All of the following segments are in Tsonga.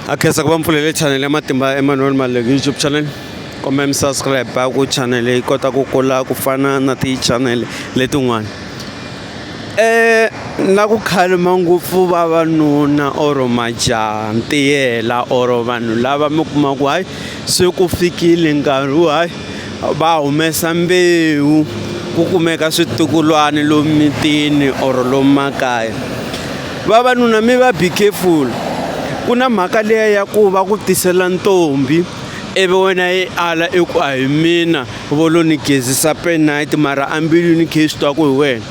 a khensa ku va mpfulele chanele ya matimba ya emmanuel maleki youtube channel kumbe mi subscribe ku chanele yi kota ku kula ku fana na tichanele letin'wana um na ku khalima ngopfu vavanuna or majaha ntiyela or vanhu lava mi kuma ku hayi se ku fikile nkarhi wo hayi va humesa mbewu ku kumeka switukulwana lomu mitini or lomu makaya vavanuna mi va be careful ku na mhaka leya ya ku va ku tisela ntombi ivi wena yi ala i ku a hi mina vo lo ni gezisa penite mara ambilwini khe swi twa ku hi wena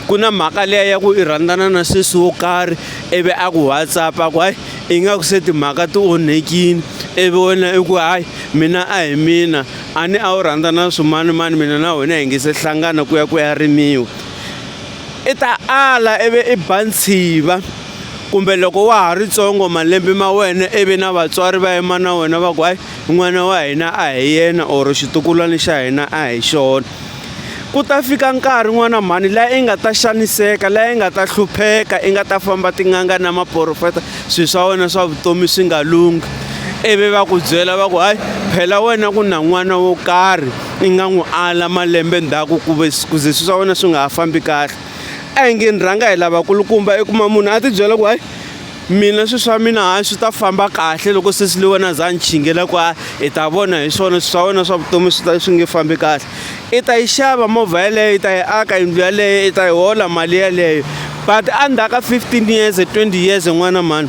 ku na mhaka leya ya ku i rhandzana na sesi wo karhi ivi a ku whatsapp a ku hayi ingaku se timhaka ti onhekile ivi wena i ku hayi mina a hi mina a ni a wu rhandza na swimani mani mina na wena hi nge se hlangana ku ya ku ya rimiwa i ta ala ivi i ba ntshiva kumbe loko wa ha ri tsongo malembe ma wena ivi na vatswari va yima na wena va ku hayi n'wana wa hina a hi yena or xitukulwana xa hina a hi xona Ku ta fika nkarhi n'wana mhani la i nga ta xaniseka la i nga ta hlupheka i nga ta famba tin'anga na maporofeta swilo swa wena swa vutomi swi nga lunghi ivi va ku byela va ku hayi phela wena ku na n'wana wo karhi i nga n'wi ala malembe ndzhaku ku ve ku ze swilo swa wena swi nga ha fambi kahle a hi nge ni rhanga hi lavakulukumba i kuma munhu a ti byela ku hayi mina swilo swa mina hayi swi ta famba kahle loko sesi le wena za ni chingela ku a i ta vona hi swona swilo swa wena swa vutomi swi ta swi nge fambi kahle i ta yi xava movha yeleyo i ta yi aka yindlu yaleyo i ta yi hola mali yeleyo but endzhaku ka fifteen years twenty years n'wana mhani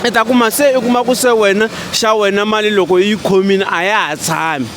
i ta kuma se i kuma ku se wena xa wena mali loko yi khomile a ya ha tshami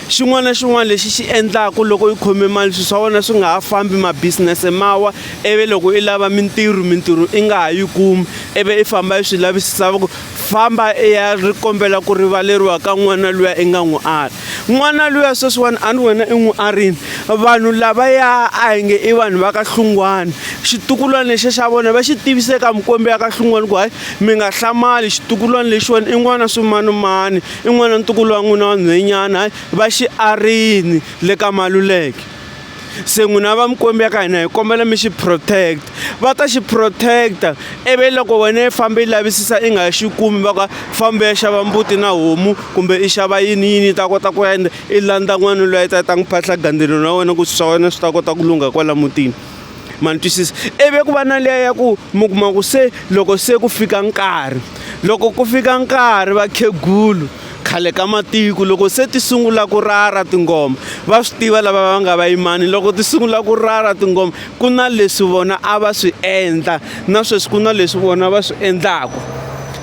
xin'wana na xin'wana lexi xi endlaka loko yi khome mali swilo swa wena swi nga ha fambi mabisinese mawa ivi loko i lava mintirho mintirho i nga ha yi kumi ivi i famba i swi lavisisa va ku famba i ya ri kombela ku rivaleriwa ka n'wana luya i nga n'wi ari n'wana luya sweswiwani a ni wena i n'wi arini vanhu lava ya a hi nge i vanhu va ka hlungwana xitukulwana lexi xa vona va xi tivise ka mukombi ya ka hlungwana ku hayi mi nga hlamali xitukulwana lexiwani i n'wana swimanimani I n'wana ntukulu wa n'wina wa nhwenyana hayi va xiarini le ka maluleke se n'wina va mikwembu ya ka hina hi kombela mi xi protect va ta xi protect-a ivi loko wena i fambe i lavisisa i nga xi kumi va ka fambe ya xava mbuti na homu kumbe i xava yini yini ta kota ku ende i landza n'wana loyi a ta ta n'wi phahla gandzelo na wena ku swi swa wena swi ta kota ku lungha kwala mutini ma ni twisisa ivi ku va na liya ya ku mi kuma ku se loko se ku fika nkarhi loko ku fika nkarhi vakhegulu khale ka matiko loko se ti sungula ku rara tingoma va swi tiva lava va nga vayimani loko ti sungula ku rara tingoma ku na leswi vona a va swi endla na sweswi ku na leswi vona va swi endlaka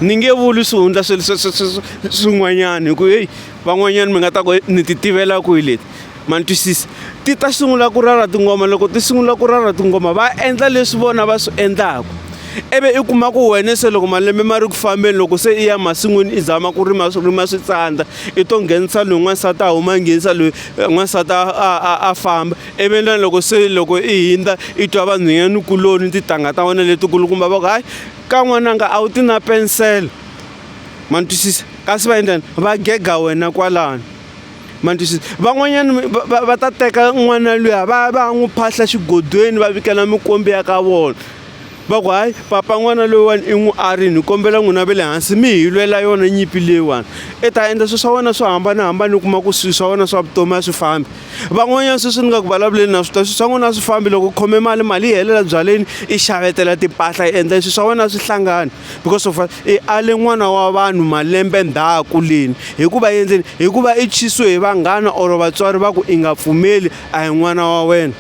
ni nge vuli swihundla sweswi swin'wanyana hi ku heyi van'wanyana mi nga ta ku ni ti tivela kwihi leti ma ni twisisa ti ta sungula ku rara tingoma loko ti sungula ku rara tingoma va endla leswi vona va swi endlaka ivi i kuma ku wena se loko malembe ma ri ku fambeni loko se i ya masin'wini i zama ku rima swi rima swi tsandza i to nghenisa loyi n'wansati a huma nghenisa loyi n'wansati a a a famba ivi na loko se loko i hindza i twa vanhwanyani kuloni titangha ta wena letikulukumba va ku hayi ka n'wananga a wu ti na pensela ma ni twisisa kasi va endlani va gega wena kwalano ma ni twisisa van'wanyana va, va, va ta teka n'wana luya va va n'wi phahla xigodweni va vikela mikombi ya ka vona va ku hayi papa n'wana loyiwani i n'wi arini hi kombela n'wina ve le hansi mi hi lwela yona nyipi leyiwani i ta endla swilo swa wena swo hambanahambana u kuma ku swilo swa wena swa vutomi a swi fambi van'wanyana sweswi ni nga ku vulavuleni na swi ta swilo swa n'wina a swi fambi loko u khome mali mali yi helela byaleni i xavetela timpahla yi endla swilo swa wena a swi hlangani because of i ale n'wana wa vanhu malembe ndhaku leni hikuva yendleni hikuva i chisiwe hi vanghana or vatswari va ku i nga pfumeli a hi n'wana wa wena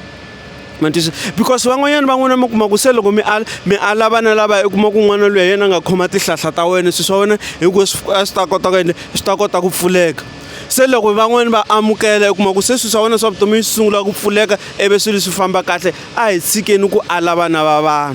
matisa because van'wanyana van'wana mi kuma ku se loko mi ala mi ala vana lava i kuma ku n'wana loyi yena nga khoma tihlahla ta wena swilo swa wena hikuva a swi ta kota ku endla swi ta kota ku pfuleka se loko van'wani va amukela u kuma ku se swilo swa wena swa vutomi swi sungula ku pfuleka ivi swilo swi famba kahle a hi tshikeni ku ala vana va vanhu